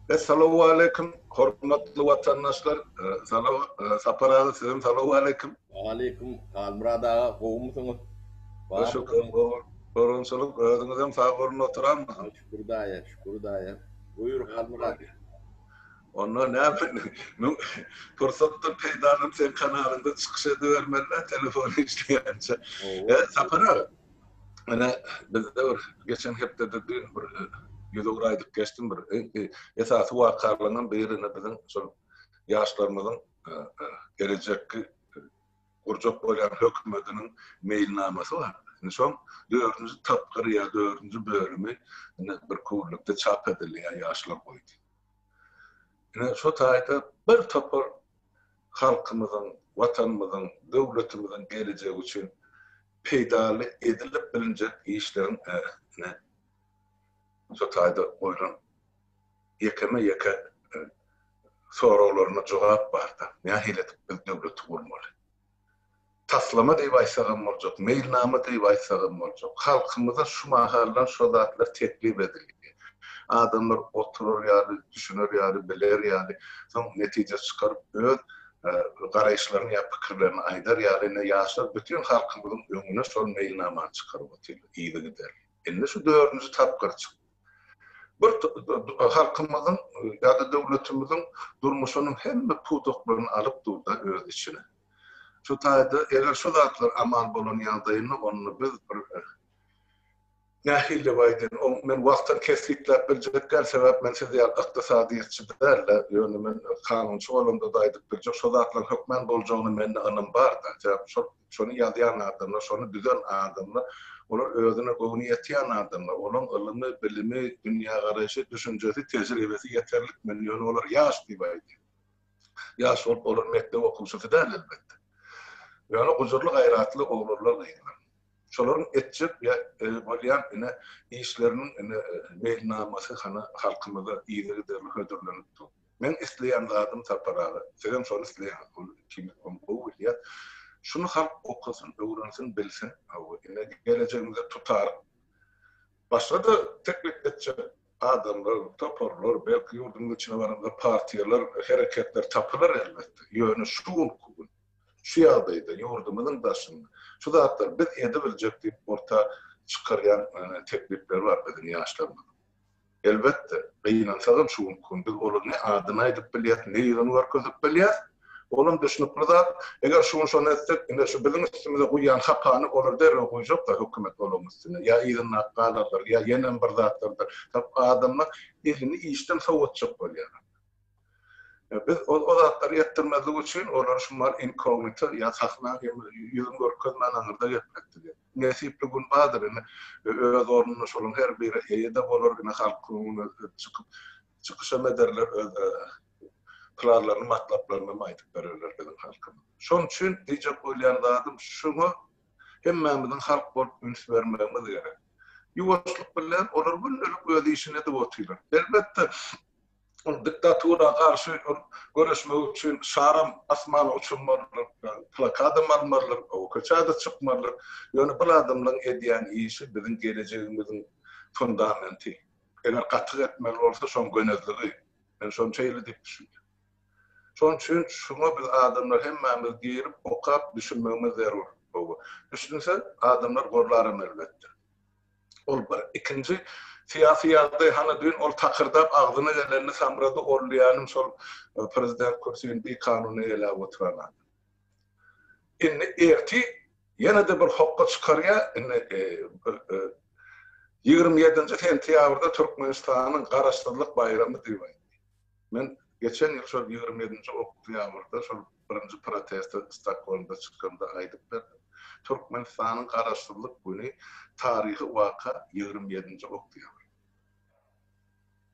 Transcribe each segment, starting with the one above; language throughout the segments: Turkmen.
Essalawwaleýkim hormatly watandaşlar Salaw Sapar aga sizem salawwaleýkim. Waleýkim Halmyrat aga gowumysyňyz bar Şükür gowunçylyk özüňizem sag boluň oturanmysyň. Şükür daýy şükür daýy buýur Halmyrat. Onda näme müň pursatdan peýdalanyp seň kanalyňda çykyş edibermelidä telefon işleýänçä. Sapar aga. Ene bizde bir geçen hepdede düýn bir ýüz ugur aýdyp geçdim bir esasy wakalaryň birine biziň şol ýaşlarymyzyň gelejekki gurjak bolýan hökümetiniň meýilnamasy bar. Indi şoň dördünji tapgyry ýa dördünji bölümi indi bir kullukda çap edilýär ýaşlar goýdy. Indi şo taýda bir topar halkymyzyň, Watanymyzyň, döwletimiziň gelejegi üçin peýdaly edilip bilinjek işleriň ählisini şu taýda goýlan ýekeme-ýeke soraglaryna jogap barda, nähili edip biz döwleti gurmaly? Taslama diýip aýtsagam boljak, meýilnama diýip aýtsagam boljak. Halkymyza şu mahaldan şo zatlar teklip edilýär. Adamlar oturar ýaly, düşüner ýaly, biler ýaly, soň netije çykaryp öz garaýyşlaryny ýa pikirlerini aýdar ýaly, ine, ýaşlar bütin halkymyzyň öňüne şol meýilnamany çykaryp otyrlar yzygiderli. Indi şu dördünji tapgyr çykdy. Bir halkymyzyň ýa-da döwletimiziň durmuşynyň hemme pudaklaryny alyp dur-da öz içine. Şu taýda eger şu zatlar amal bolan ýagdaýynda onda biz bir nähili baýdan oň men wagtyny kesgitläp biljek däl sebäp men siz ýaly ykdysadyýetçi dälde ýöne men kanunçy bolamda da aýdyp biljek şo zatlaryň hökmän boljagyna mende ynam barda sebäp şol şony ýazýan adamlar şony düzen adamlar olar özüne göwni ýetýän adamlar olaň ylymy bilimi dünýägaraýşy düşünjesi tejribesi ýeterlik men ýöne olar ýaş diýip aýdýan. Ýaş bolup olar mekdep okuwçysy däl elbetde. Ýöne gujurly-gaýratly oglanlar-gyzlar. Şolaryň etjek ýa bolýan ine işleriniň ine meýilnamasy hany halkymyza yzygiderli hödürlenip dur. Meň isleýän zadym Sapar aga, sizem şony isleýäňiz, ol ikimiz ony gowy bilýäs. Şuny halk okasyn, öwrensin, bilsin. Hawa, ine gelejegimize tutaryk. Başga-da teklip etjek Adamlar, toparlar, belki ýurduň içine baranda partiýalar, hereketler tapylar elbetde. Ýöne şu günki gün, şu ýagdaýda, ýurdumyzyň daşynda şu zatlary biz edibiljek diýip orta çykarýan teklipler bar biziň ýaşlarymyzyň. Elbetde, gynansagam şu günki gün biz olar ne adyny aýdyp bilýäs, ne ýüzüni görkezip bilýäs. Olam düşnükli zat. Eger şunçany etsek, ine şu biziň üstümize guýýan hakany olar derrew guýjaklar hökümet olaryň üstüne. Ýa yzyndaky galardyr, ýa ýenem bir zatlardyr. Sebäp adamlar elini işden sowatjak bolýar. Biz o zatlary etdirmezlik üçin olary şumal inkognito ýa sahna ýüzün görkezmän aňyrda gepletdik. Indi nesipli gün bardyr, indi öz ornunda şolaryň her biri eýe-de bolar, indi halk öňüne çykyp çykyşam ederler, öz planlaryny matlaplarynam aýdyp bererler biziň halkymyz. Şoň üçin diýjek bolýan zadym şuňa hemmämiziň halk bolup üns bermegimiz gerek. Ýuwaşlyk bilen olar gündelik öz işini edip otyrlar. Elbetde ol diktatura garşy ol göreşmek üçin şaram asmana uçurmalydyr, plakadam almalydyr, köçäde çykmalydyr. Ýöne bul adamlaryň edýän işi biziň gelejegimiziň fundamenti. Eger gatyk etmeli bolsa şoň gönezligi Men şony şeýle diýip düşünýän. Şonuň üçin şuňa biz adamlar hemmämiz girip okap düşünmegimiz zerur. Gowy. Düşünse adamlar gorlaram elbetde. Ol bir. Ikinji syýasy ýagdaý hany düýn ol takyrdap agzyna gelenini samrady orleanym şol prezident kürsini bikanun eýeläp oturan adam. Indi erti ýene-de bir hokga çykarýar, indi ýigrimi ýedinji sentýabrda Türkmenistanyň Garaşsyzlyk baýramy diýip aýtdy. Men geçen ýyl şol ýigrimi ýedinji oktýabrda şol birinji proteste Stokgolmda çykanda aýdyp berdim. Türkmenistanyň Garaşsyzlyk güni taryhy waka ýigrimi ýedinji oktýabr.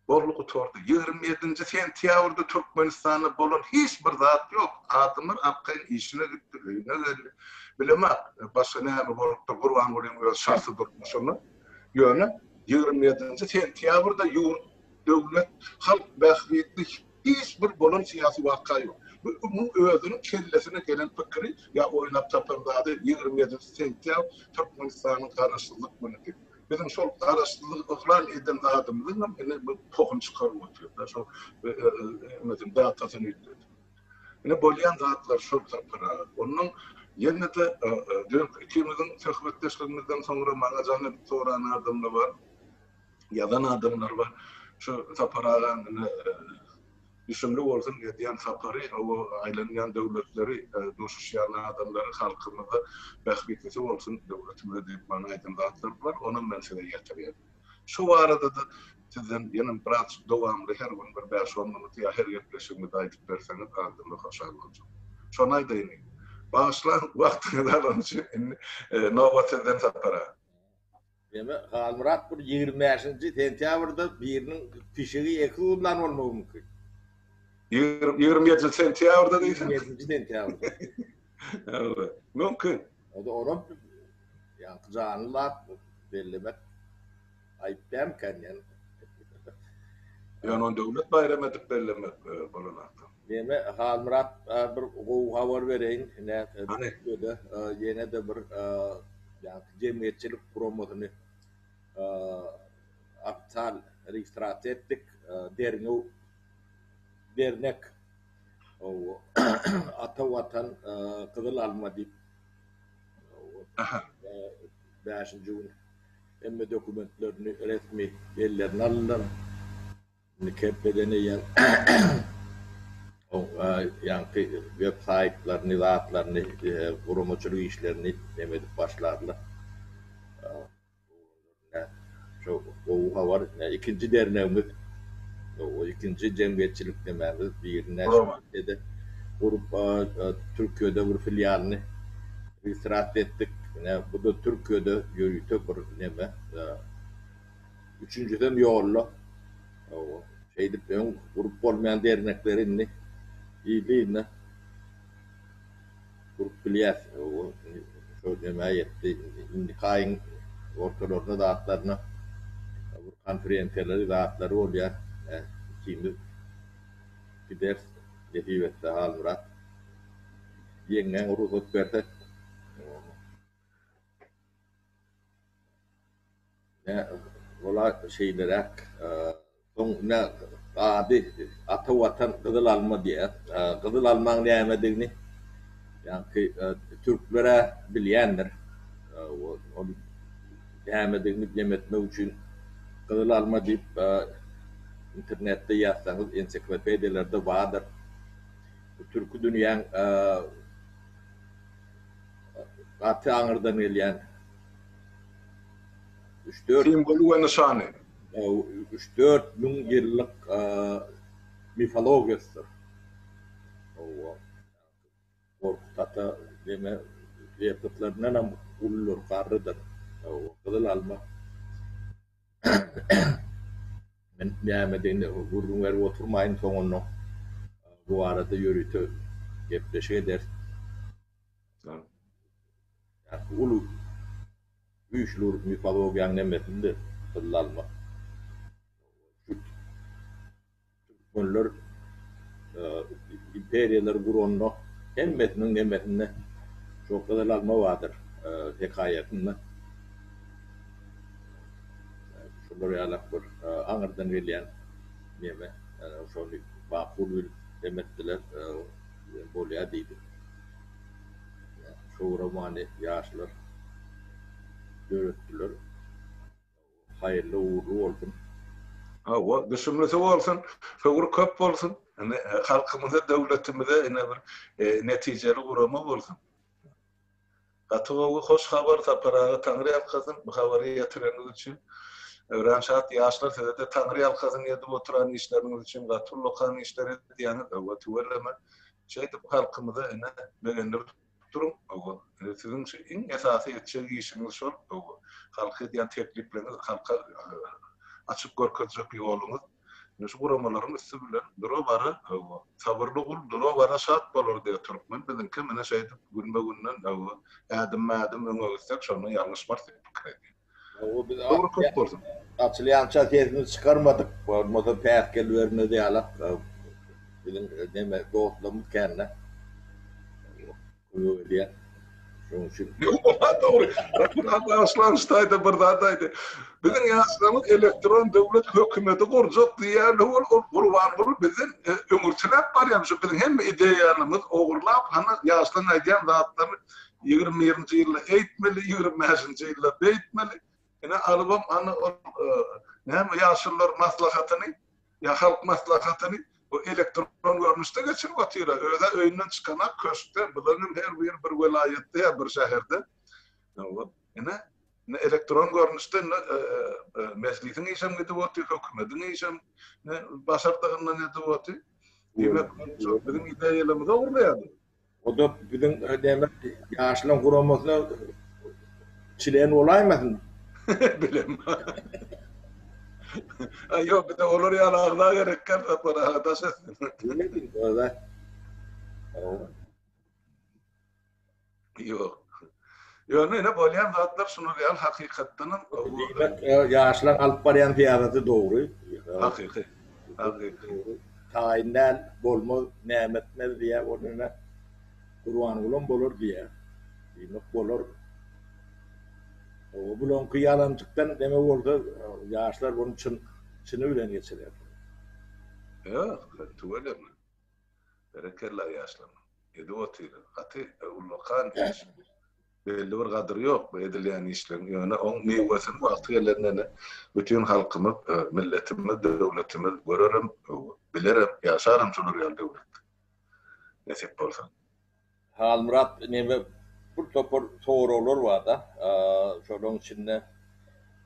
Boldy gutardy. Ýigrimi ýedinji sentýabrda Türkmenistanda bolan hiç bir zat ýok. Adamlar arkaýyn işine gitdi, öýüne geldi. Bilemok, başga näme bolupdyr, Gurbangulynyň öz şahsy durmuşyna. Ýöne ýigrimi ýedinji sentýabrda ýurt, döwlet, halk bähbitli hiç bir bolan syýasy waka ýok. Bu munuň özüniň kellesine gelen pikiri ýa oýlap tapan zady ýigrimi ýedinji sentýabr Türkmenistanyň Garaşsyzlyk günüdi. Biziň şol garaşsyzlygy yglan eden adamymyzyňam ine bu tohuny çykaryp otyr-da, şo ömediň datasyny üýtgedip. Ine bolýan zatlar şol tapyraga. Onnoň ýene-de dünenki ikimiziň söhbetdeşligimizden soňra maňa jaň edip soran adamlar bar, ýazan adamlar bar. Şu Sapar agam ine Düşümli bolsun edýän sapary hawa aýlanýan döwletleri duşuşýan adamlary halkymyza bähbitlisi bolsun döwletimize diýip maňa aýdan zatlary bar onam men size ýetirýän. Şu baradada sizden ýene biraz dowamly her gün bir bäş on minut ýa her gepleşigimizde aýdyp berseňiz azdymly hoşal boljak. Şony aýdaýyn Bagyşlaň wagtyňyzy alany üçin indi nobat sizden sapara. Ýöne Halmyrat bir ýigrimi bäşinji sentýabrda biriniň pişigi eki gymlan bolmagy mümkin. Ýigrimi ýedinji sentýabrda diýseň. Ýigrimi ýedinji sentýabrda. Hawa, mümkin. Onda olam ýaňky janly zat bellemek aýyp dälmikä indi ýöne. Ýöne ony döwlet baýramy edip bellemek bolanokda. Näme Halmyrat bir gowy habar bereýin Türkiýede ýenede bir jemgyýetçilik guramasyny ofital registrasiýa etdik derňew dernek ata watan gyzyl alma diýip bäşinji gün hemme dokumentlerini resmi ellerine aldylar. Indi Kepbeden eýýäm ýaňky web saýtlaryny, zatlaryny, guramaçylyk işlerini neme edip başlarlar. Şu gowy habar. Ikinji dernegimiz, ikinji jemgyýetçilik nemämiz birine şeýle-de gurup Türkiýede bir filialyny registrasiýa etdik. Ine bu-da Türkiýede ýörite bir neme. Üçünjisem ýolda. Hawa. Şeýdip öň gurup bolmaýan dernekleri indi yzly-yzyna gurup bilýäs. Hawa. Şo nämä ýetdi. Indiki aýyň ortalaryna zatlaryna bir konferensiýalary zatlary bolýar. Ikimiz gideris nesip etse Halmyrat. Ýeňňäň rugsat berse. Hawa. Ola şeýleräk soň ine gady, Ata Watan gyzyl alma diýýär. Gyzyl almaň nämedigini ýaňky türkler-ä bilýändir. Ol nämedigini jem etmek üçin gyzyl alma diýip internetde ýazsaňyz, ensiklopediýalarda bardyr. Bu türki dünýäň gaty aňyrdan gelýän Simwoly we nyşany. Üç-dört müň ýyllyk mifologiýasydyr. Gorkut ata diňe ýapytlaryndan hem uludyr, garrydyr. Gyzyl alma. Men nämedigini gürrüň berip oturmaýyn, soňundan bu barada ýörite gepleşik ederis. Ýa-da uly güýçli urup mifologiýanyň hemmesini de tylla almak. Şu türkmenler imperiýalary guranda hemmesiniň nemesinde şo gyzyl alma bardyr hekaýasynda şular ýalak bir aňyrdan gelýän neme şony makul bilip hem etdiler hem bolýa diýdi. Şu romany ýaşlar döretdiler. Haýyrly ugrly bolsun. Hawa, düşümlisi bolsun, höwri köp bolsun. Ine, halkymyza, döwletimize ine bir netijeli gurama bolsun. Gaty gowy, hoş habar, Sapar aga Taňry ýalkasyn, bu habary ýetireniňiz üçin. Örän şat ýaşlar, size-de Taňry ýalkasyn edip oturan işleriňiz üçin, gaty ullakan işler edýäňiz, hawa, tüweleme. Şeýdip halkymyza ene begendirip duruň öwü. Siziň şu iň esasy etjek işiňiz şol öwü. Halka edýän teklipleriňiz halka açyp görkezjek ýoluňyz ine şu guramalaryň üsti bilen dura bara öwü. Sabyrly gul dura bara şat bolar diýýär türkmen biziňki mine şeýdip günbe günden öwü ädimme ädim öňe gitsek şonda ýalňyşmarys diýip pikir edýän. Gowy biz Dogry köp bolsun. Açylýança sesimizi çykarmadyk. Bolmasa päsgel bermez ýalak biziň neme dostlarymyz kände. Kömek edýän. Şonuň üçin. Ýoga dogry. Rasul han bagyşlanyşda aýda bir zat aýdy. Biziň ýaşlarymyz elektron döwlet hökümeti gurjak diýýärler ol ol Gurbanguly bizden öňürtiläp barýarmyş. Biziň hemme ideýalarymyz ogurlap hany ýaşlaryň aýdýan zatlaryny Ýigrimi birinji ýylda eýtmeli, ýigrimi bäşinji ýylda beýtmeli. Ine, alybam hany ol, näme, ýaşulular maslahatyny, ýa halk maslahatyny bu elektron görnüşde geçirip otyr-a. Öz-ä öýünden çykanak köşkde, bular hem her biri bir welaýatda ýa bir şäherde. Ine, indi elektron görnüşde indi Mejlisiň işem gidip otyr, hökümetiň işem başardygyndan edip otyr. Diýmek, biziň ideýalarymyza urýar bu. O-da biziň demek ýaşlaryň guramasyna çilen bolaýmasyn? Bilemok. Aý ýok, bize olar ýaly agza gerek kän Sapar aga, daş etsin. Bilmedim, o zat. Ýok. Ýöne ine bolýan zatlar şular ýaly hakykatdanam. Diýmek, ýaşlaň alyp barýan syýasaty dogry. Hakyky. Hakyky. Taýyn däl, bolmaz, näme etmez diýýär, ol ine Gurbangulam bolar diýýär. Diýmek bolar. Oba bulanky ýalanjykdan neme bolsa ýaşlar bunu çyn çyny bilen geçirer. Ýok, tüweleme. Berekella ýaşlarym. Edip otyryň. Gaty ullakan iş. Belli bir gadyry ýok bu edilýän işleriň. Ýöne oň miwesini wagty gelende bütin halkymyz, milletimiz, döwletimiz görerem, bilerem, ýaşarem şular ýaly döwletde. Nesip bolsa. Halmyrat neme bir topar soraglar barda şolaň içinde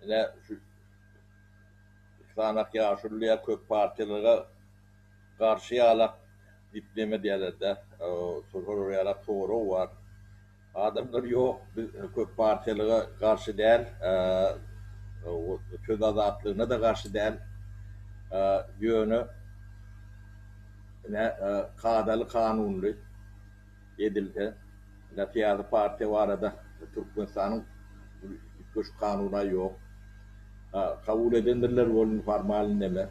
ine şu sanak ýaşulylar ýa köp partiýalara garşy ýalak dip neme diýälerdä şolar ýalak sorag bar adamlar ýok biz köp partiýalara garşy däl söz azatlygyna da garşy däl ýöne Ine, kadaly-kanunly edilse, ine, syýasy partiýa barada Türkmenistanyň üýtgeşik kanuny-a ýok. Kabul edendirler welin formal indeme.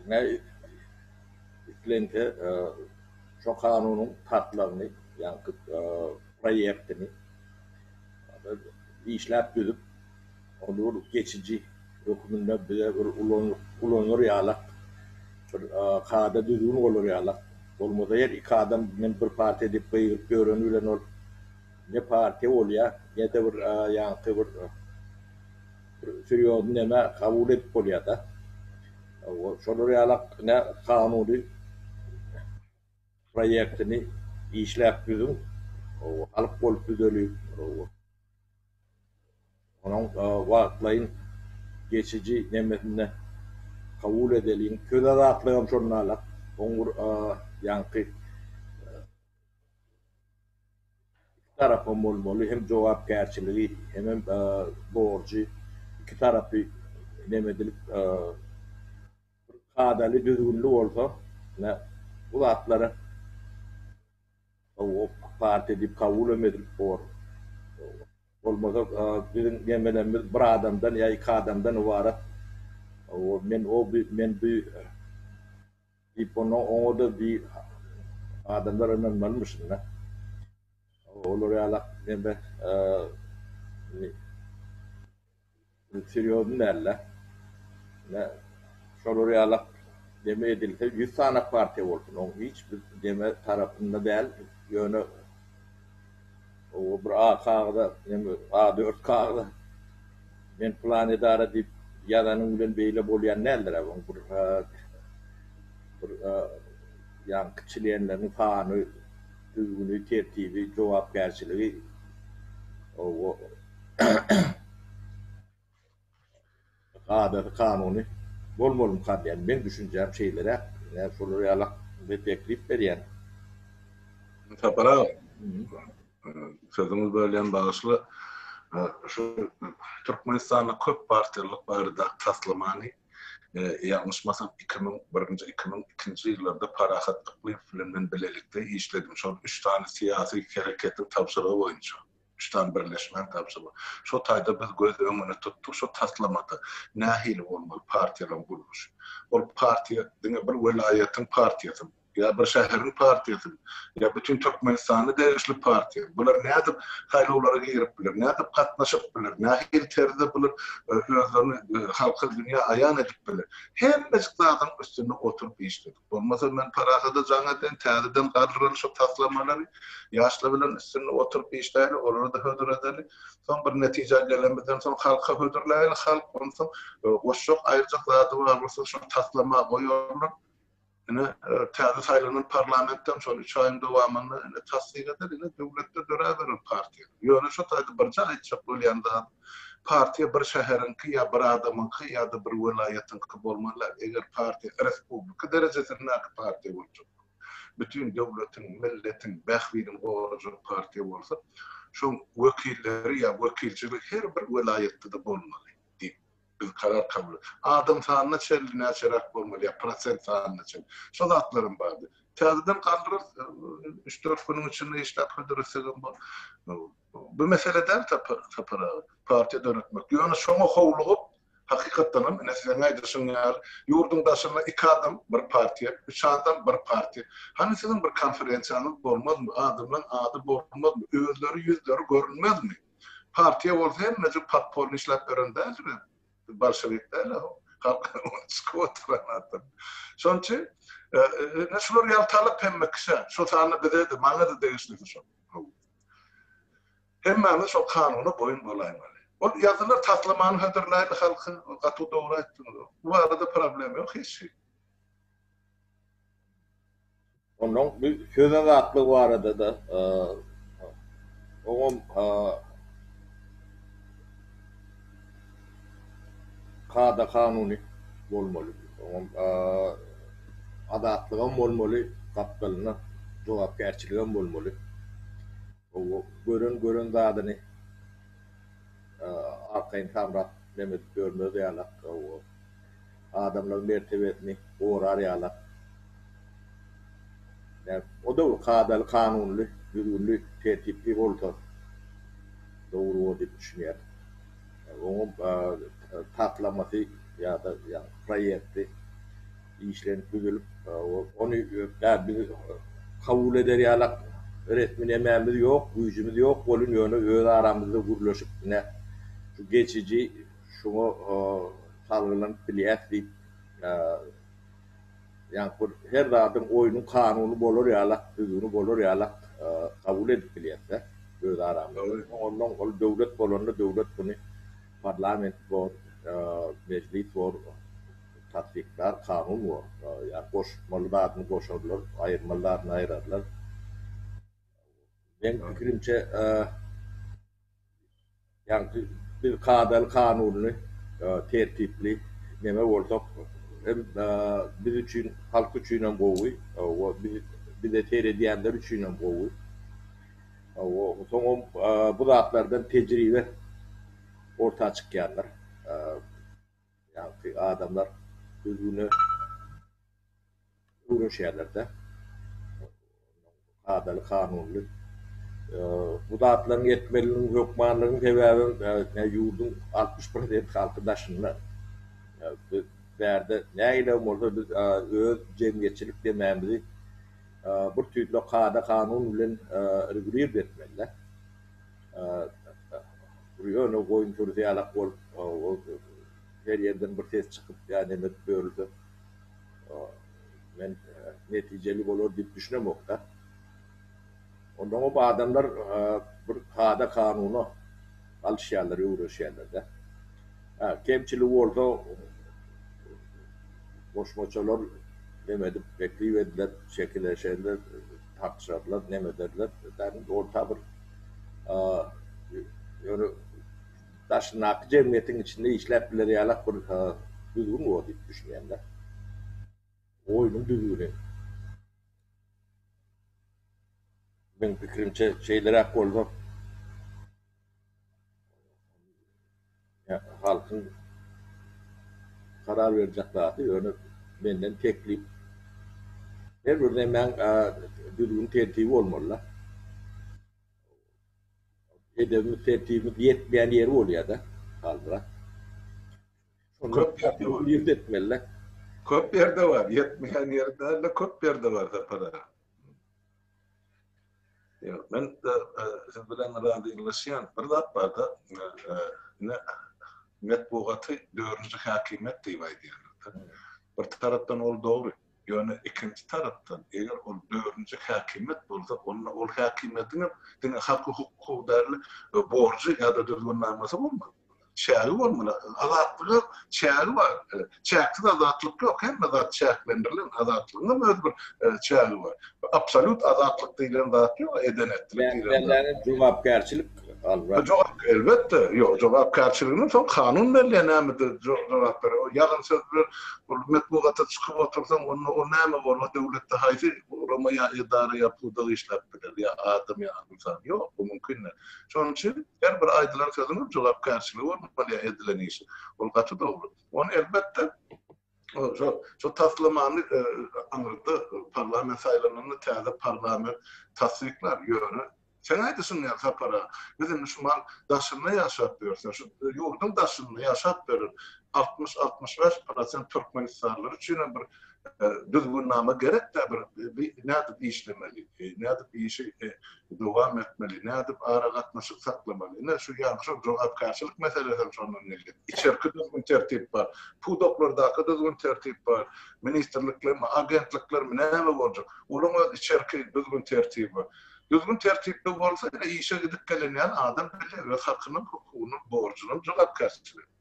Ine, islense, şo kanunyň taslagyny, ýaňky proýektini işläp düzüp, Olar geçiji hökmünde bize bir ulanylar ýalak, bir kada düzgün bolar ýalak, bolmasa her iki adam men bir partiýa diýip gygyryp ýöreni bilen ol ne partiýa bolýa, ne-de bir ýaňky bir serýozny neme kabul edip bolýa-da. Şolar ýalak ine kanuny proýektini işläp düzüň, halk bolup düzeliň. Onuň wagtlaýyn, geçiji nemesinde kabul edeliň. Söz azatlygam şonda-la oň bir ýaňky iki tarapam bolmaly, hem jogapkärçiligi, hemem borjy iki tarapy nemedilip bir kadaly, düzgünli bolsa, ine, bu zatlara. Hawa ok partiýa diýip kabulam edilip bor. Bolmasa biziň nemelerimiz bir adamdan ýa iki adamdan ybarat. Hawa men o bi men bi diýip onda oňada bi adamlar ynanmalymyşynda. Hawa olar ýalak neme ni Serýozny dälde. Ine, şolar ýalak deme edilse ýüz sany partiýa bolsun, oň hiç bir deme tarapynda däl, ýöne oba bir ak kagyza, neme a dört kagyza men pylan edara diýip ýazanyň bilen beýle bolýan däldir-ä, oň bir bir ýaňky çlenleriniň sany, düzgüni, tertibi, jogapkärçiligi kadasy, kanuny bolmalymkan? Ýagny meň düşünjäm şeýleräk. Nädip şolar ýala bir teklip berýäň? Sapar aga, sözüňi bölýän, bagyşla. Şu Türkmenistanda köp partiýalylyk baradaky taslamany Ýalňyşmasam, iki müň birinji, iki müň ikinji ýyllarda Parahat Yklymow bilen men bilelikde işledim. Şol üç sany syýasy hereketiň tabşyrygy boýunça, üç sany birleşmäň tabşyrygy. Şo taýda biz göz öňüne tutduk, şo taslamada nähili bolmaly partiýalaryň gurluşy. Ol partiýa diňe bir welaýatyň partiýasymy? Ýa bir şäheriň partiýasy, ýa bütin Türkmenistana degişli partiýa. Bular nädip saýlawlara girip biler, nädip gatnaşyp biler, nähili terzde bular özlerini halka, dünýä aýan edip biler? Hemmejik zadyň üstünde oturyp işledik. Bolmasa men Parahada jaň eden, täzeden galdyralyn şu taslamalary, ýaşlar bilen üstünde oturyp işläýeli, olary-da hödür edeli. Soň bir netijä gelenimizden soň halka hödürläýeli, halk onsoň goşjak, aýyrjak zady bar bolsa şuny taslama goýarlar. Ine, täze saýlanan parlamentden şol üç aýyň dowamynda ine tassyk eder, ine döwletde döräberer partiýa. Ýöne şu taýda birje aýtjak bolýan zat, partiýa bir şäheriňki ýa bir adamyňky ýa-da bir welaýatyňky bolmaly däl. Eger partiýa respublika derejesindäki partiýa boljak bolup, bütin döwletiň, milletiň bähbidini gorajak partiýa bolsa, şoň wekilleri ýa wekilçiligi her bir welaýatda-da bolmaly diýip. Biz karar kabul Adam sanyna çenli näçeräk bolmaly ýa prosent sanyna çenli. Şo zatlaram bardy. Täzeden galdyrarys. Üç-dört günüň içinde işläp hödürlesegem bol. Bu mesele däl Sapar aga. Partiýa döretmek. Ýöne şoňa howlugyp, hakykatdanam ine siziň aýdyşyň ýaly, ýurduň daşynda iki adam bir partiýa, üç adam bir partiýa. Hany siziň bir konferensiýaňyz bolmazmy? Adamlaň ady bolmazmy? Özleri ýüzleri görünmezmi? Partiýa bolsa hemmejik podpolny işläp beren däldir hem. Bolşewik däl-ä o. Halk ony çykyp oturan adam. Şonuň üçin ine şular ýaltalyk hemme kişä, şol sanda bize-de, maňa-da degişlisi şol. Hemmämiz şol kanuna boýun bolaýmaly. Ol ýazylar taslamany hödürläýdi halka, ol gaty dogry aýtdyňyz. Bu barada problem ýok hiç hili. Onnoň bu söz azatlygy barada-da oňam kada-kanuny bolmaly. Oňam azatlygam bolmaly, gapdalynda jogapkärçiligem bolmaly. Gören gören zadyny arkaýyn samrap Mehmet görmez ýalak. Adamlaryň mertebesini gorar ýalak. O döwür kadaly kanunly, düzgünli, tertipli bolsa dogry bor diýip düşünýärin. Oňa taslamasy ýa-da proýekti. işlenip düzülip ony dal biz kabul eder ýalak resmi nemämiz ýok güýjümiz ýok welin ýöne öz aramyzda gürleşip ine şu geçiji şuňa salgylanyp bilýäs diýip ýaňky bir her zadyň oýnuň kanuny bolar ýalak düzgüni bolar ýalak kabul edip bilýäsdä öz aramyzda ondan ol döwlet bolanda döwlet muny parlament bor mejlis bor Tassyklar kanun bor. Ýa goşmaly zadyny goşarlar, aýyrmaly zadyny aýyrarlar. Meň pikirimçe, ýagny biz kadaly kanunly, tertipli neme bolsak hem biz üçin, halk üçin hem gowy, hawa, bize seredýänler üçin hem gowy. Hawa, soňam bu zatlardan tejribe orta çykýandyr. Ýagty adamlar düzgüne öwrenişýärler-de. Kadaly, kanunyly. Bu zatlaryň etmeliniň hökmanlygynyň sebäbem näme ýurduň altmyş prosent halky daşynda. Biz bärde nägiläm bolsa biz öz jemgyýetçilik demamizi bir tüýs kada-kanun bilen regulirdi etmeli-de. Ýöne goýun sürüsi ýalak bolup, her ýerden bir ses çykyp ýa neme edip ýörülse, men netijeli bolar diýip düşünemok-da. Ondan köp adamlar bir kada-kanuna galyşýarlar, öwreşýärler-de. Hä, kemçiligi bolsa, goşmaçalar neme edip, teklip ediler, çekileşerler. tapşyrarlar, nem ederler, dagyn orta bir ýöne daşyndaky jemgyýetiň içinde işläp biler ýalak bir düzgün bor diýip düşünýän-de. Oýnuň düzgüni. Meň pikirimçe şeýleräk bolsa. Halkyň karar berjek zady ýöne menden teklip. Her bir nemäň düzgün tertibi bolmalyda. Edebimiz tertibimiz ýetmeýän ýeri bolýada Halmyrat. Köp ýerde bar, ýetmeýän ýeri däl-de köp ýerde bar Sapar aga. Ýok, men siz bilen razylaşýan. Bir zat bar-da, indi metbugaty dördünji häkimiýet diýip aýdýarlar-da. Bir tarapdan ol dogry, ýöne ikinji tarapdan, eger ol dördünji häkimiýet bolsa, onda ol häkimiýetiňem diňe haky-hukuk howdary borjy ýa-da düzgünnamasy bolmaly. Çägi bolmaly. Azatlga çägi bar. Çäksiz azatlyk ýok. Hemme zat çäklendirilen. Azatlygyň hem öz bir çägi bar. Absolýut azatlyk diýlen zat ýok. Eden-etdilik diýlen zat. Bäri-bärden jogapkärçilik alra. Jogap, elbetde. Ýok, jogapkärçiligini soň kanun belleýär nämede jogap berer. O ýalan söz bilen ol metbugata çykyp otursaň, onda ol näme bor? O döwletde haýsy gurama ýa edara ýa pudak işläp biler? Ýa adam ýa. ynsan. Ýok, bu mümkin däl. Şonuň üçin her bir aýdylan sözüniň jogapkärçiligi bolmaly ýa edilen işiň. Ol gaty dogry. Ony elbetde şo şo taslamany aňyrda parlament saýlananda täze parlament tassyklar. Ýöne seň aýdyşyň ýaly Sapar aga, biz indi şu mal daşynda ýaşap ýörse, şu ýurduň daşynda ýaşap ýören altmyş, altmyş bäş prosent türkmenistanlylar üçinem bir düzgünnama gerek-dä bir nädip işlemeli, nädip işi dowam etmeli, nädip aragatnaşyk saklamaly. Ine şu ýa şol jogapkärçilik meselesi hem şondan gelýär. Içerki düzgün tertip bar, pudaklardaky düzgün tertip bar, ministrliklermi, agentliklermi näme boljak? Olaň öz içerki düzgün tertibi bar. Düzgün tertipli bolsa ine işe gidip gelenýän adam bilýär öz hakynyň, hukugynyň, borjunyň, jogapkärçiligini.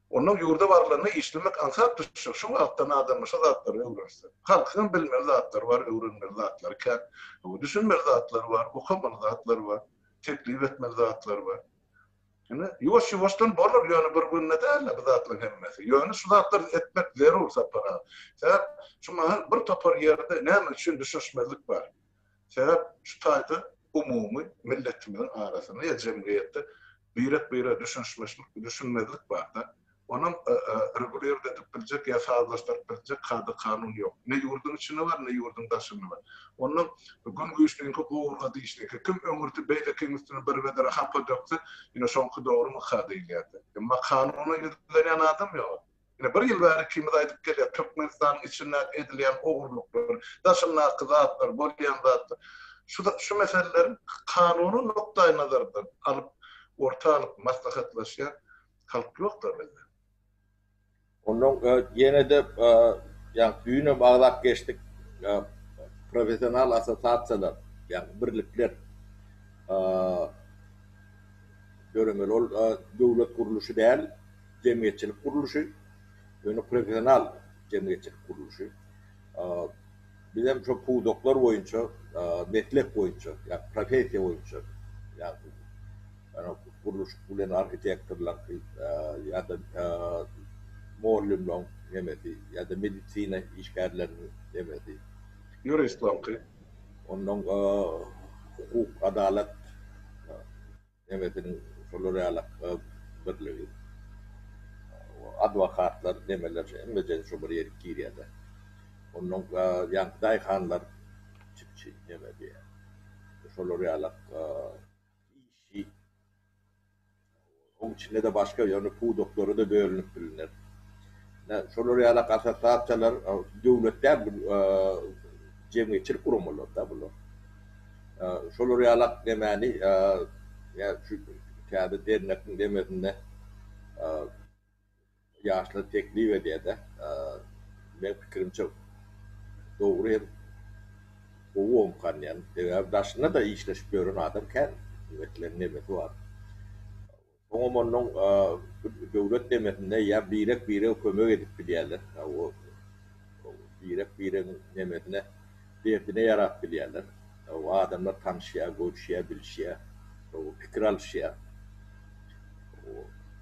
Onnoň ýurda barylanda işlemek aňsat düşjek, şu wagtdan adamlar şu zatlary öwrense. Halkyňam bilmeli zatlary bar, öwrenmeli zatlary kän. Düşünmeli zatlary bar, okamaly zatlary bar, teklip etmeli zatlary bar. Ine, ýuwaş-ýuwaşdan bolar, ýöne bir günde däl-de bu zatlaryň hemmesi. Ýöne şu zatlary etmek zerur, Sapar aga. Sebäp şu mahal bir topar ýerde näme üçin düşünişmezlik bar. Sebäp şu taýda umumy milletimiziň arasynda ýa jemgyýetde birek-birege düşünişmeşlik, düşünmezlik barda. Onuň regulirde edip biljek ýa sazlaşdyryp biljek kada-kanun ýok. Ne ýurduň içinde bar, ne ýurduň daşynda bar. Onda Gün güýçliňki gowurga dişliňki. Kim öňürti beýlekiň üstüne bir wedere hapa dökse, ine şoňky dogrymy ka diýilýärdi. Emma kanuna ýüzlenýän adam ýok. Ine, bir ýyl bäri ikimiz aýdyp gelýäs, Türkmenistanyň içinde edilýän ogurlyklar, daşyndaky zatlar, bolýan zatlar. Şu-da, şu meseleleri kanuny nukdaýnazardan alyp, orta alyp maslahatlaşýan halk ýok-da bizde. Onnoň ýene-de, ýagny düýnem agzap geçdik, professional assosiasiýalar, ýagny birlikler döremeli. Ol döwlet gurluşy däl. jemgyýetçilik gurluşy, ýöne professional jemgyýetçilik gurluşy. Biz hem şol pudaklar boýunça, meslek boýunça, ýa professiýa boýunça, ýagny gurluşyk bilen arhitektorlaryňky ýa-da mugallymlaryň hemmesi ýa-da medisina işgärleriniň hemmesi, ýuristleriňki, onnoň hukuk, adalat. Demesiniň şolar ýaly birligi. Adwokatlar demeler hemmeje şo bir ýerik girýäde. Onnoň ýaňky daýhanlar çipçi neme diýä. Şolar ýaly işi. Oň içinde-de başga ýöne pudaklara-da bölünip bilner. Ine şolar ýaly assosiasiýalar döwlet däl bu jemgyýetçilik guramalar-da bular. Şolar ýaly ak demäni şu täze dernegiň demesinde ýaşlar teklip edýärde. Meň pikirimçe dogry hem gowy omkanýan. Sebäbi daşynda-da işleşip ýören adam kän. Meselem nemesi bar. Oňam onuň döwlet nemesinde ýa birek-birege kömek edip bilýärler. Birek-biregiň nemesine, derdine ýarap bilýärler. Adamlar tanyşýar, görüşýär, bilişýär, pikir alyşýar.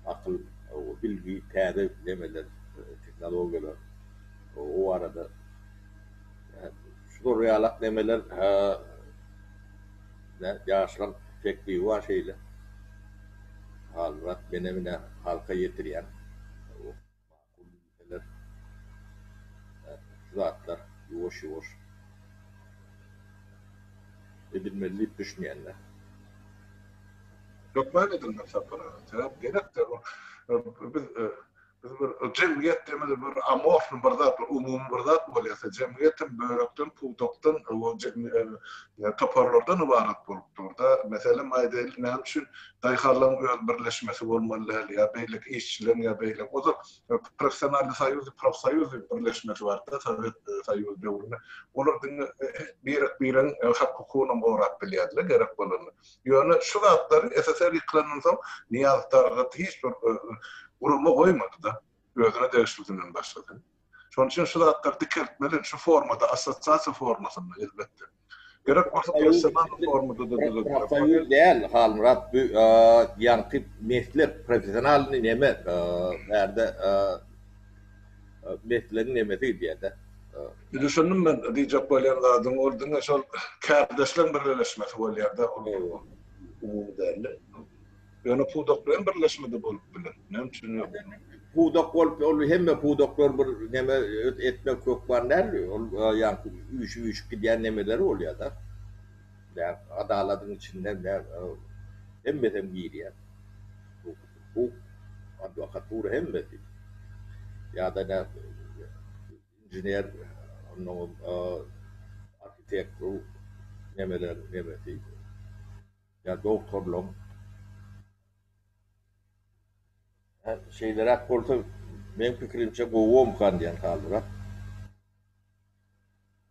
Akyl, bilgi, täze nemeler, tehnologiýalar o barada. Şular ýalak nemeler Nä ýaşlar pek biwa şeýle Halmyrat mene mine halka ýetirýäň ok makul bilseler şu zatlar ýuwaş ýuwaş edilmeli diýip düşünýän men. Hökman edilmeli Sapar aga sebäp gerekdir ol biz Biz bir jemgyýet diýmeli bir amorfny bir zat, bir umumy bir zat bolýarsa, jemgyýet hem bölekden, pudakdan, toparlardan ybarat bolup dur-da. Meselem, aýdaýlyk, näme üçin daýhanlaryň öz birleşmesi bolmaly däl ýa beýleki işçileriň ýa beýleki, ozal professionalnyý soýuz, profsoýuz birleşmesi bardy-da Sowet Soýuzy döwründe. Olar diňe birek-biregiň hak-hukugynam gorap bilýärdi-le gerek bolanda. Ýöne şu zatlary SSR ýykylandan soň Nyýazow Talgat hiç bir gurama goýmady-da, özüne degişlisinden başga-da. Şonuň üçin şu zatlary dikeltmeli, şu formada, assosiasiýa formasynda, elbetde. Gerek bolsa personal formada-da düzediler. Soýuz däl, Halmyrat, bu ýaňky meslek, professionalnyý neme, bärde, meslegiň nemesi diýede. Düşündim men diýjek bolýan zadyňy ol diňe şol kärdeşleň birleşmesi bolýada ol umumy dälde ýöne pudak bilen birleşmede bolup biler näme üçin ýok. Pudak bolup ol hemme pudaklar bir neme etmek hökman däl ol ýaňky üýşüp üýşüp gidýän nemeleri bolýada ýa adaladyň içinde hemmesem girýä. hukuk, adwokatura hemmesi ýa-da näme inžener onnoň arhitektor nemeler nemesi ýa doktorlaň şeýleräk bolsa meň pikirimçe gowuomkan diýen halyrak.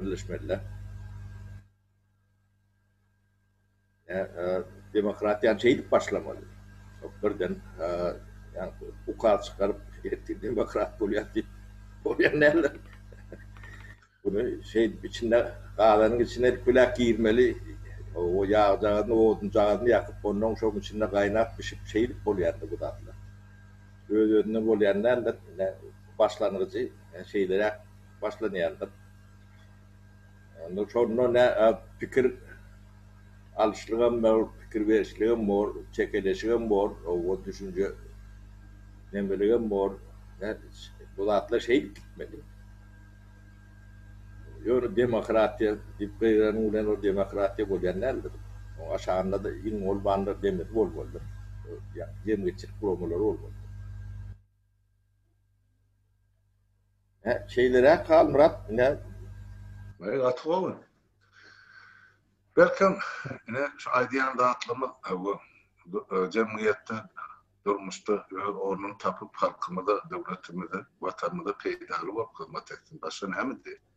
Birleşmeliler. Demokratiýany şeýdip başlamaly. Birden ukaz çykaryp demokrat bolýas diýip bolýan däl. Muny şeýdip içine gazanyň içine erküläk girmeli. O ýagjagazyny, odunjagazyny ýakyp, onnoň şoň içinde gaýnap bişip şeýdip bolýar indi bu zatlar. Öz-özünden bolýan däldir. Ine başlangyjy. Şeýleräk başlanýardyk. Onda şonda nä pikir alyşlygam bor, pikir berişligem bor, çekeleşigem bor, oba düşünje nemeligem bor. Bu zatlar şeýdip gitmeli. Ýöne demokratiýa diýip gygyranyň bilen ol demokratiýa bolýan däldir. Oň aşagynda-da iň bolmanda demir bolmalydyr. Jemgyýetçilik guramalary bolmalydyr. Hä şeýleräk Halmyrat ine. Eý gaty gowy. Belkem ine şu aýdýan zatlarymyz bu jemgyýetde durmuşda öz ornuny tapyp halkymyza döwletimize watanymyza peýdaly bolup hyzmat etsin başga näme diýeýin.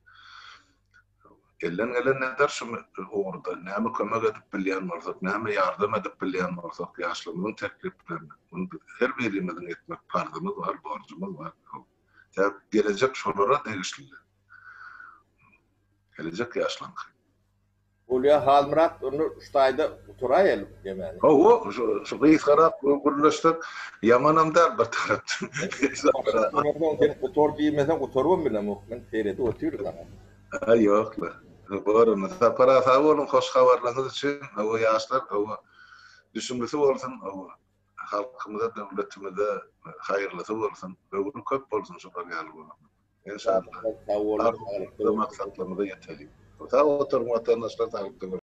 Elden gelen nedir şu ugurda? Näme kömek edip bilýän bolsak, näme ýardam edip bilýän bolsak, ýaşlarymyzyň tekliplerini, muny biz her birimiziň etmek parzymyz bar, borjumyz bar. Tä gelejek şolara degişlidir. Gelejek ýaşlaryňky. Bolýa Halmyrat onda şu taýda gutaraýaly bu temany. Hawa şu gysgarak gürleşsek ýamanam däl bir tarapdan. Sen gutar diýmeseň gutarybam bilemok men seredip otyryn saňa. Haý ýok la. Bar onda. Sapar-a sag boluň hoş habarlaryňyz üçin. Hawa ýaşlar hawa düşümlisi bolsun hawa halkymyza döwletimize haýyrlysy bolsun. Höwri köp bolsun şular ýaly bolanlaryň. Enşallah. Sag boluň. Saglyk, maksatlarymyza ýetelik. Sag oturyň watandaşlar saglyk.